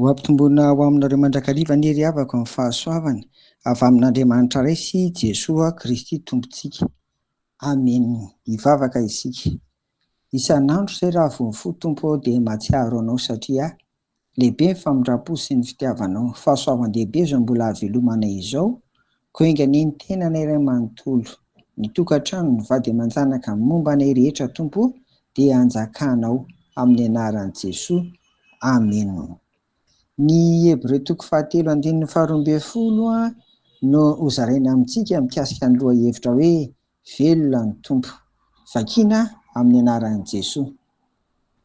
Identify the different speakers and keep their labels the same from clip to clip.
Speaker 1: Ho ampitomboina ho aminareo mandrakariva anie ry havako ny fahasoavana avy amin'Andriamanitra Ray sy Jesoa Kristy Tompontsika. Amen! Hivavaka isika. Isan'andro izay raha vao mifoha Tompo aho dia mahatsiaro Anao satria Lehibe ny famindrampo sy ny fitiavanao. Fahasoavan-dehibe izao mbola havelomanay izao, koa enga anie ny tenanay iray manontolo, ny tokantrano, ny vady aman-janaka, ny momba anay rehetra, Tompo o, dia hanjakanao, amin'ny anaran'i Jesoa, amena. Ny Hebreo toko fahatelo andininy faharoa ambin'ny folo no hozaraina amintsika mikasika ny lohahevitra hoe Velona ny Tompo. Vakiana amin'ny anaran'i Jesoa.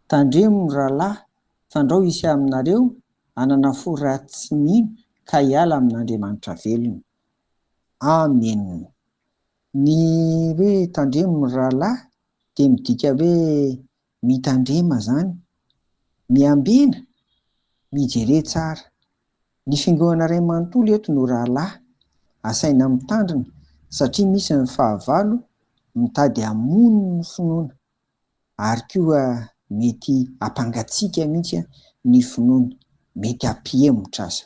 Speaker 1: Tandremo ny rahalahy Fandrao hisy aminareo hanana fo ratsy tsy mino ka hiala amin'Andriamanitra velona. Amen. Ny hoe tandremo ny rahalahy dia midika hoe mitandrema izany. Miambena, mijere tsara. Ny fiangonana iray manontolo eto no rahalahy. Asaina mitandrina satria misy ny fahavalo mitady hamono ny finoana. ary koa mety hampangatsiaka mihitsy ny finoana, mety hampihemotra aza.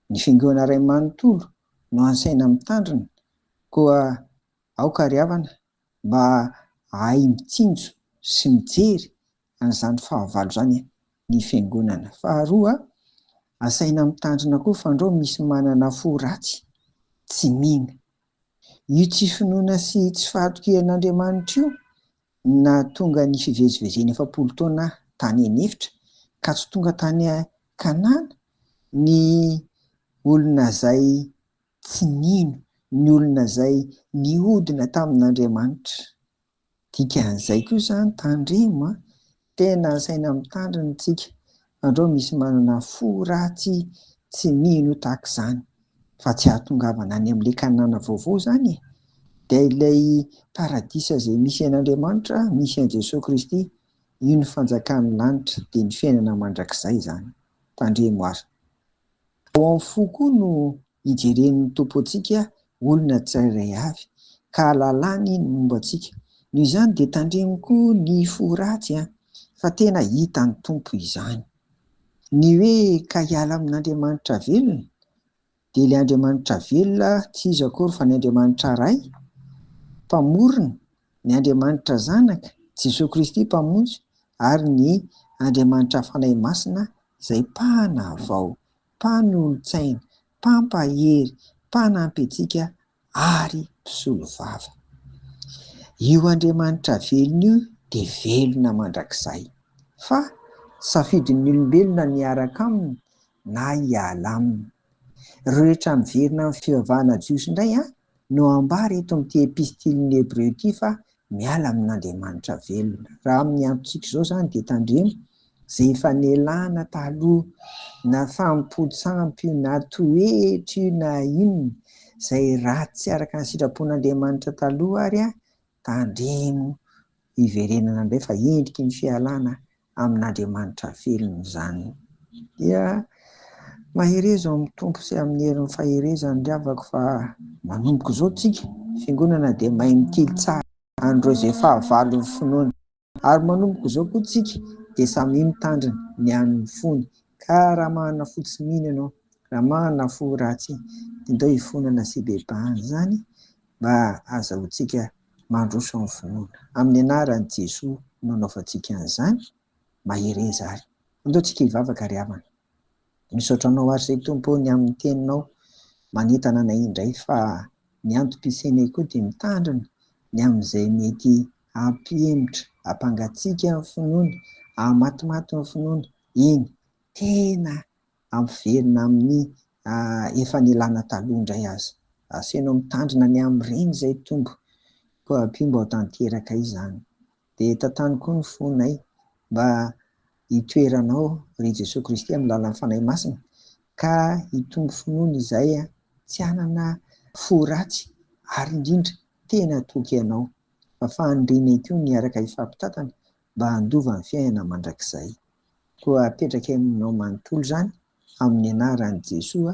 Speaker 1: Ny fiangonana iray manontolo no ansaina mitandrina, koa aoka ry havana mba hahay mitsinjo sy mijery an'izany fahavalo izany ny fiangonana. Faharoa, asaina mitandrina koa fandrao misy manana fo ratsy, tsy mino, Io tsy finoana sy tsy fahatokiana an'Andriamanitra io no nahatonga ny fivezivezena efapolo taona tany an'efitra ka tsy tonga tany Kanana ny olona izay tsy nino, ny olona izay nihodina tamin'Andriamanitra. Dikan'izay koa izany tandremo a! Tena asaina mitandrina antsika fa ndreo misy manana fo ratsy tsy mino tahaka izany fa tsy ahatongavana any amin'ilay Kanana vaovao izany e! Dia ilay paradisa izay misy an'Andriamanitra, misy an'i Jesoa Kristy, io ny fanjakan'ny lanitra dia ny fiainana mandrakizay izany. Tandremo ary. Ao amin'ny fo koa no Ijeren'ny Tompo antsika olona tsirairay avy, ka ahalalany ny momba antsika. Noho izany dia tandremo koa ny fo ratsy, fa tena hitan'ny Tompo izany. Ny hoe ka hiala amin'Andriamanitra velona, dia ilay Andriamanitra velona tsy iza akory fa ny Andriamanitra Ray, Mpamorona, ny Andriamanitra Zanaka, Jesoa Kristy Mpamonjy, ary ny Andriamanitra Fanahy Masina izay Mpanavao mpanolotsaina, mpampahery, mpanampy antsika ary mpisolovava. Io Andriamanitra velona io dia velona mandrakizay. Fa safidin'ny olombelona ny hiaraka aminy na hiala aminy. Rehetra miverina amin'ny fivavahana jiosy indray an! No ambara eto amin'ity Epistilin'ny Hebreo ity fa miala amin'Andriamanitra velona. Raha amin'ny androntsika izao izany dia tandremo izay efa nialana taloha, na fahampoan-tsampy io, na toetra io, na inona izay ratsy tsy araka ny sitrapon'Andriamanitra taloha ary, Tandremo hiverenana indray fa endriky ny fialana amin'Andriamanitra velona izany. Dia mahereza ao amin'ny Tompo sy amin'ny herin'ny faherezany ry havako fa manomboka izao tsika fiangonana dia mahay mitily tsara an'ireo izay fahavalon'ny finoana. Ary manomboka izao koa tsika dia samia mitandrina ny an' ny fony, ka raha manana fo tsy mino ianao, raha manana fo ratsy, dia ndao hifonana sy hibebahan' izany mba hahazahoantsika mandroso amin' ny finoana. Amin' ny anaran' i Jesoa no anaovantsika an' izany, mahereza ary. Andao tsika hivavaka ry havana. Misaotra anao ary Ray Tompo ny amin'ny teninao manentana anay indray fa ny antom-pisianay koa dia mitandrina ny amin'izay mety hampihemotra, hampangatsiaka ny finoana, hahamatimaty ny finoana, eny, tena hampiverina amin'ny efa nilana taloha indray aza. Asainao mitandrina ny amin'ireny izay Tompo. Koa ampio mba ho tanteraka izany. Dia tantano koa ny fonay mba hitoeranao ry Jesoa Kristy amin'ny lalan'ny Fanahy Masina ka hitombo finoana izay tsy hanana fo ratsy ary indrindra tena toky Anao. Fa fahanrinay koa ny hiaraka hifampitantana mba handova ny fiainana mandrakizay. Koa apetrakay aminao manontolo izany amin'ny anaran'i Jesoa